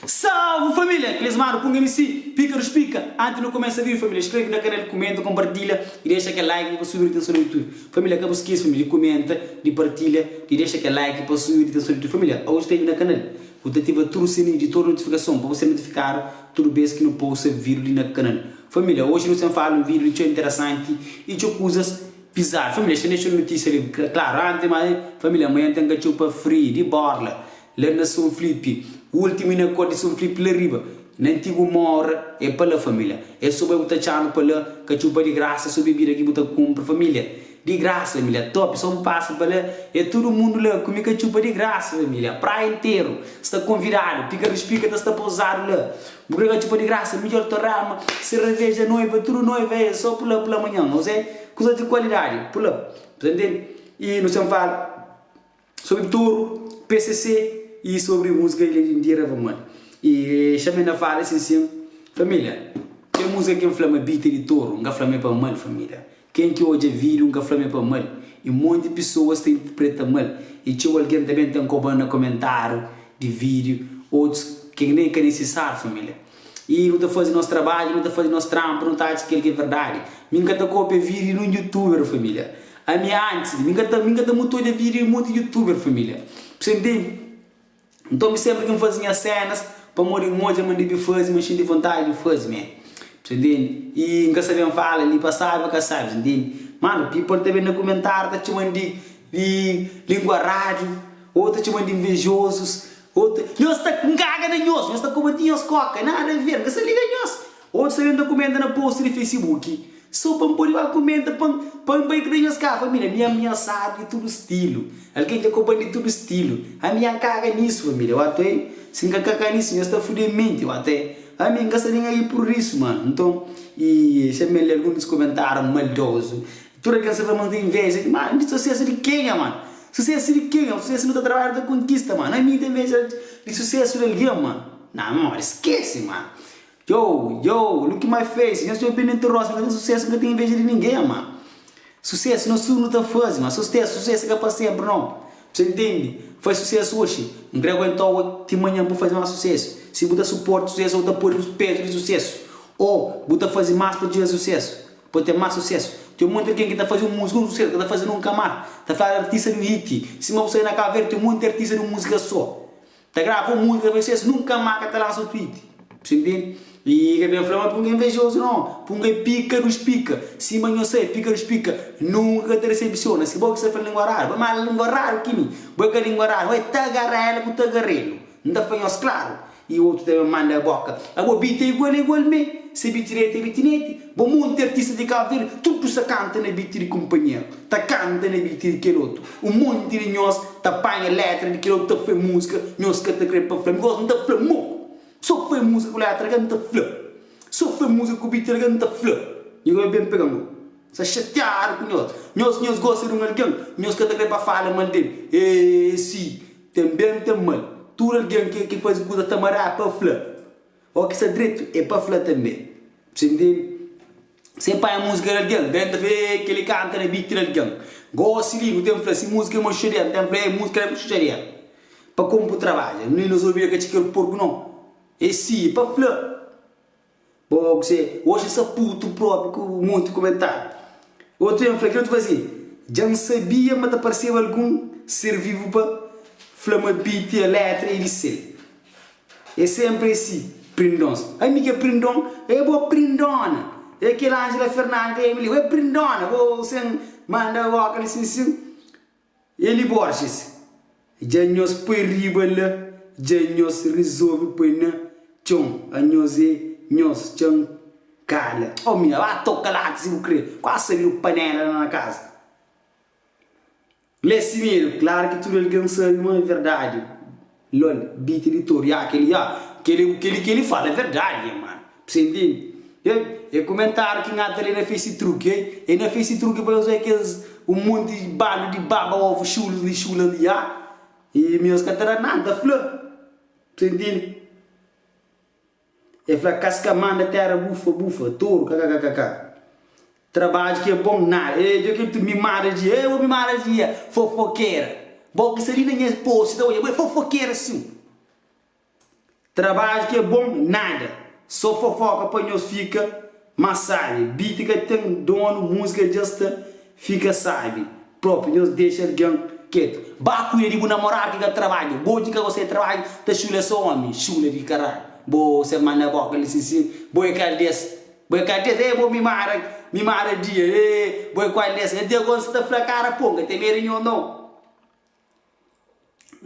Salve família! Klesmadu ku un MC, Píkaru Spika. Anti nu kumesa vídiu família, skrebe na kanal, kumenta, konpartilha i dexa kel like li pa subi rotason na Youtube. Família ka bu skese família di kumenta, di partilha, di dexa kel like pa subi rotason na Youtube. Família, aos skrebe na kanal, bu ta ativa tudu sininhu di tudu notifikason pa bu ser notifikadu tudu bes ki nu posta vídiu li na kanal. Família, oji nu sen fala un vídiu di txeu interesanti i txeu kuzas. Pizar família xinês txeu notísia li klaru antis ma família manhan ten ka txeu pa fri di borla la na son flipi ultimu i na kor di son flipi la riba na antigu morra e pa la família e so bai bu ta txanu pa la ka txeu pa di grasa so bebida ki bu ta kunpra família di grasa família topi so bu pasa pa la e tudu mundu la kumi ka txeu pa di grasa família praia interu sta konvidadu pika rispika ta sta pouzadu la. Bu krê ka txupa di grasa midjor ta rama serreveja noiva tudu noiva ê só pula pula manhan nos ê kuza di kualidadi pula bu ta ntende i nos ten fala sobri toru pcc i sobri musika ilha di ndira va mal i xamé na fala sin sin família kel musika ki n fla ma bita di toru n ka fla ma ê pa mal família Ken ki odja video nka fla ma é pa mal e monti pisoas ta interpreta mal e txeu algen ta ben ta nkoban na komentariu di video otus ke nen ka nisisáriu família e nu ta fazi nos trabadju nu ta fazi nos tranpu nu ta atxa kel ki é verdadi mi nka ta kopia video di nun youtuber família ami antis mi nka ta mi nka ta mutu odja video di monti youtuber família p'se ntendi. Nton mi senpri ki nfazi nhas senas pamodi nodja ma ndebe fazi, ma nxinti vontadi di fazi mé. Bsta ntende? I nka sabe nfala li pa sabi o ka sabi, bsta ntende? Mano, people ta ben na kumentariu ta txoman di lingua radiu, o ta txoman di nvejozus, o ta. Nhos ta nkaga na nhos, nhos ta komenti nhos koka, nada a ver, nka sa liga nhos. Otus algen ta kumenta na post di Facebook so pa N podi ba kumenta pa N pa N bai ku dja ska família mi amiasadu di tudu stilu algen dja koba-m di tudu stilu ami dja N kaga nisu família wata oi si N ka kaga nisu nhos ta fudi N minti wata oi ami N ka sta nen ai pur isu mano nton i xa mi N lé algun di es kumentáriu maldozu tudu algen sta fla ma N ta inveja di mano di susesu di kenha mano susesu di kenha susesu nu ta trabadja nu ta konkista mano ami N ta inveja di susesu di algen mano na modi skese mano Yow yow look my face nhos dja bini nti rosa ka ten sucesso nka ten inveja di ninguém ma sucesso nhos tudo nu ta fazi ma sustess sucesso ka pa sempre não bse intendi faz sucesso hoxi um kre aguentau oi ti manhã bu faz mas sucesso si bu ta suporta sucesso ou ta podi bu peso di sucesso ou bu ta fazi mas pa txiga sucesso pa ten mas sucesso tem um monte de alguém ki ta fazi um musica um sucesso ka ta fazi nunca mas ta fala artista di um hit sima bu sai na cabo verde tem um monte de artista di um musica só. Ta grava un músika pa ses nunka má ka ta lansa un tweet. Sen tende? I ka ben fla ma Punga é invejozu nau. Punga é pika dus pika. Sima nhos sai, pika dus pika nunka ka ta desepsiona. Si bo ki sta fla língua raru, bai má língua raru ki mi. Bo é ka língua raru. Bai ta gara el ku tagarelu. N ta fla nhos klaru. I otu ta ben manda boka. Abo bit é igual é igual mê. Se bit direti é bitineti. Bo monti artista di Cabo Verde tudu sa canta na beat di companheiro ta canta na beat di kel otu um monti di nhos ta panha letra di kel otu ta fle musica nhos ka ta kre pa fle because um ta fle mou so fle musica ku letra kel um ta fle so fle musica ku beat kel um ta fle nhos ka ben pega mou sa chateado ku nhos nhos nhos gosta di um alguém nhos ka ta kre pa fala mal del eee si tem bem tem mal tudo alguém ke ke fazi kuza ta mará pa fle. Ó ki sta dretu é pa fla tanbê. Bse ntende? Bse panha múzika di algen, ben ta fla, Ê, kel-li kanta na beat di algen. Gósi li, bu ten fla, Si múzika é machuxa di el, bu ten fla, Ê, múzika li é machuxa di el. Pa komu bu trabadja? Nli nos obi el ka txiker porku nau. Ê si, é pa fla. Bo bse oxa saputu propi ku monti kumentáriu. Otu ten fla, Ki otu faze? Dja N sabia ma ta parseba algun ser vivu pa fla ma beat é létra é di sel. É sénpri asi, prindons. Ami ki é prindon, ê bô prindona! Ê kel Ánjela Fernanda ta ê-mi li, ué prindona, bô sen manda óka li sin sin? Eli Borges, Dja nhos poi riba la, dja nhos rizolve poi na txon, anhos ê nhos txan kala. Ô mina, ba toka láti si bu krê, kuazi sa-l i bu panéla la na kaza. Lé si medo, klar ki tudu algen sabe ma é verdade lol, bite di toru, ya keli ya, keli ku keli keli fala é verdade ya man, pa se intende, ei, é komentariu ki nha ta lé na facetruk, ei, ei na facetruk pa nhos bai kes un monti bandu di baba ovu xulus li xula li ya, i nhos ka ta da nada, ta fla, pa se intende. E fla kas ka manda tera bufa bufa toru kakakakaka trabadju ki e bom nada e djo kel tudu mimada dji e bo mimada dji e fofokera bo ki sa li na nha posi ta odja bo e fofokera sin trabadju ki e bom nada so fofoka pa nhos fika Ma sabe, beat ka ten donu Múzika dja sta fika sabe Propi nhos dexa algen ketu Ba kuida di bu namoradu ki ka trabadja Bo ki ka gosta di trabadja Ta xula so omi, xula di karalhu Bo ser manda bo ka lisisin Bo é kal des, bo é kal des Ê bo mimada, mimada dia Ê, bo é kual des Até agora N sta ta fla kara ponga Ten medu di nhos nau.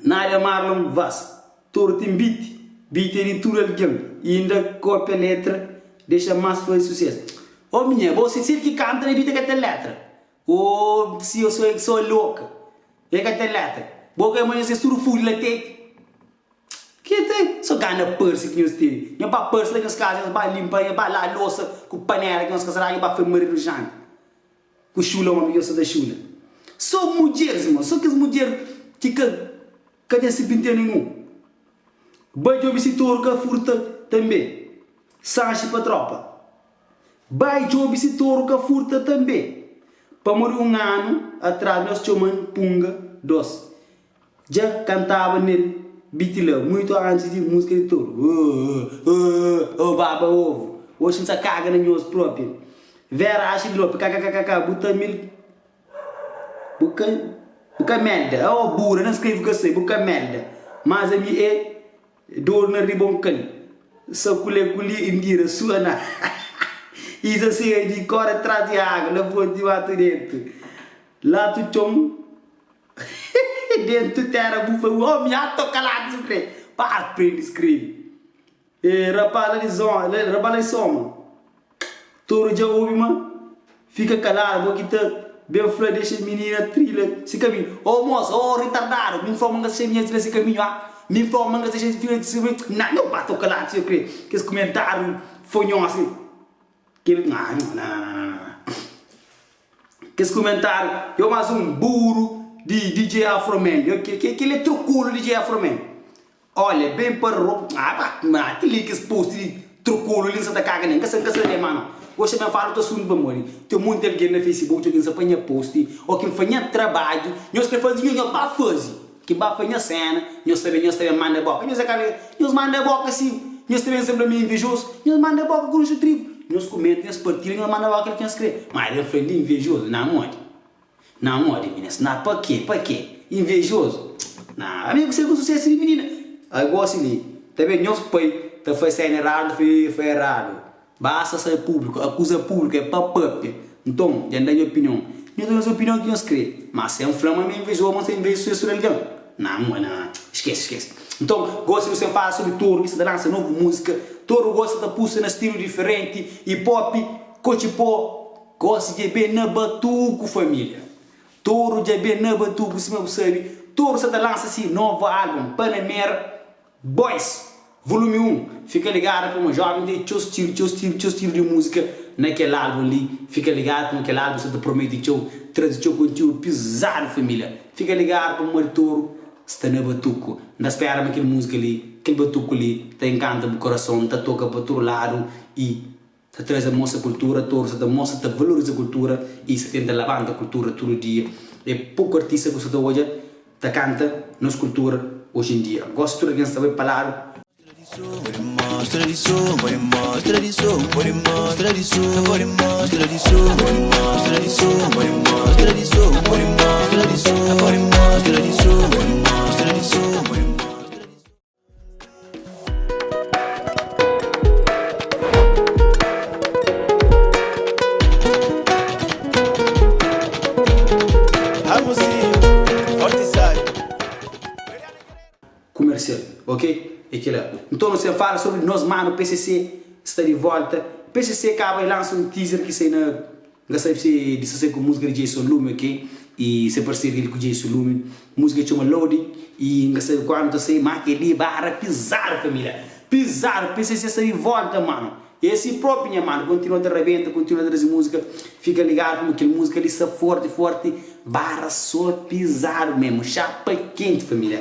Nadia Marlon Vaz, Toru ten beat, beat é di tudu algen y inda kopia letra dexa más faze suses. Ô minha, bo si sil ki kanta na beat é ka ten letra? Ô si ô so so é loka, é ka ten letra? Bo ka é ma nhos nhos tudu fude la tete? Ki ten? So gana parse ki nhos tene. Nhos ba parse la nhos kaza nhos ba linpa, nhos ba laa losa ku panela ki nhos ka sa da nhos ba fla maridu janta. Ku xula omi yo sa ta xula so mudjer sima so kes mudjer ki ka ka ten sipintia ninhun ba djobi si toru ka furta tanbe sanxi pa tropa bai djobi si toru ka furta tanbe pamodi un anu atras nos txoman punga dos Dja kantaba nel beat la muitu antes di música di toru ooh ooh oh baba ovo oxi n'sa caga na nhos propia Vera acha e dropi kkkk bu ta mil bu ka bu ka melda oh bura na screve ka sai bu ka melda mas ami e doru na riba um kal sa kule kuli e mbira sua na hahaha i sa seja di kore tras di água na fonti matu dentu latu txon. Dentu tera bu foi omi a to kaladu su krê pa aprende skrebe e rapaz la di zon rapaz la di soma toru dja obi ma fika kaladu bo ki ta ben fla dexa minina trila si kaminhu o mos o ritardadu mi nfla ma nka xamia trila si kaminhu a mi nfla ma nka xamia trila si kaminhu na nau ba to kaladu su krê kes kumentariu fonhosi. Kes kumentáriu yo más un buru di DJ Afroman yo Kel é trokulu DJ Afroman Olha ben pa ro Apa Má kel li kes post di trokulu li N sa ta kaga nel N ka sa N ka sa lé mano Gosi ben fala otu asuntu pamodi Ten monti algen na facebook dja ki N sa panha post Ô ki N fadha nha trabadju Nhos krê faze nho, nhos ba faze. Ki ba pa nhos sena, nhos ta ben, nhos ta ben manda eboka. Nhos é ka ben, nhos manda eboka si. Nhos ta ben sen bla mi é invejozu. Nhos manda eboka ku nxu trigu. Nhos kumenta, nhos partida, nhos manda eboka kel ki nhos kre. Ma el fla, Li invejozu, na modi? Na modi, minina? Si na pa ke? Pa ke? Invejozu? Na, ami é ku se ku susesu di minina. Ai gosi li. Ta ben, nhos pai ta fase sena eradu, ta fase fai eradu. Basta sa é públiku, akuza públiku é pa pâpia. Nton, dja N da nha opinion. Nhos da nhos opinion ki nhos krê. Má sen fla ma mi inveja oba, ma N sta inveja susésu di algen? Nan, nha nan. Skese, skese. Nton, gosi nu sen fala sobri Toru, ki sta ta lansa novu múzika. Toru gosi sta ta puxa na stilu diferenti, hip-hop, kotxipó. Gosi dja ben na Batuku, família. Toru dja ben na Batuku, sima bu sabe. Toru sta ta lansa se novu álbum, Panamera. Boys! Volume 1, Fika ligadu puma joven ten txeu stilu, txeu stilu, txeu stilu de musika na kel album li, fika ligadu puma kel album sa ta promete txeu, trazi txeu kontiudu pizadu familia, fika ligadu pa Mari Toru sta na batuku, N ta spera ma kel musika li, kel batuku li ta enkanta bu korason, ta toka pa tudu ladu y. ta traze mostra kultura toru sa ta mostra ta valoriza kultura y sa tenta labanta kultura tudu dia e poku artista ku sa ta odja ta kanta nos kultura oji en dia gosi tudu algen sta bai pa ladu Comercial ok é kila nton nus ten fala sobri nos manu pcc sta di volta pcc kaba e lansa un teaser ki sai na N ka sabe se disasai ku musika di Jason Lume ok i se parseria del ku Jason Lume musika txoma Loaded i N ka sabe kuandu ta sai ma kel li barra pizadu pa mi la pizadu p'e se sesa di volta mano e si propi nha mano kontinua ta rabenta kontinua ta trazi musika fika ligadu kuma kel musika li sta forti forti barra so pizadu mesmu xapa kenti família.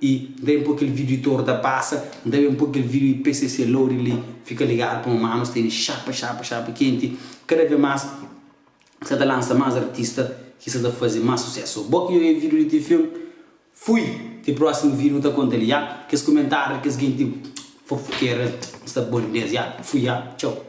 I N ta ben poi kel vídiu tor ta pasa, N ta ben poi kel vídiu i pcc loading li fika ligadu pamó manu sta iri xapa xapa xapa kenti. Kada vez más N sa ta lansa más artista ki sa ta faze más susésu. Bo ki oiê vídiu li ti fin, fui! Ti prósimu vídiu N ta konta li ya. Kes kumentáriu di kes genti fofokera N sta bo di bes ya. Fui ya. Txau.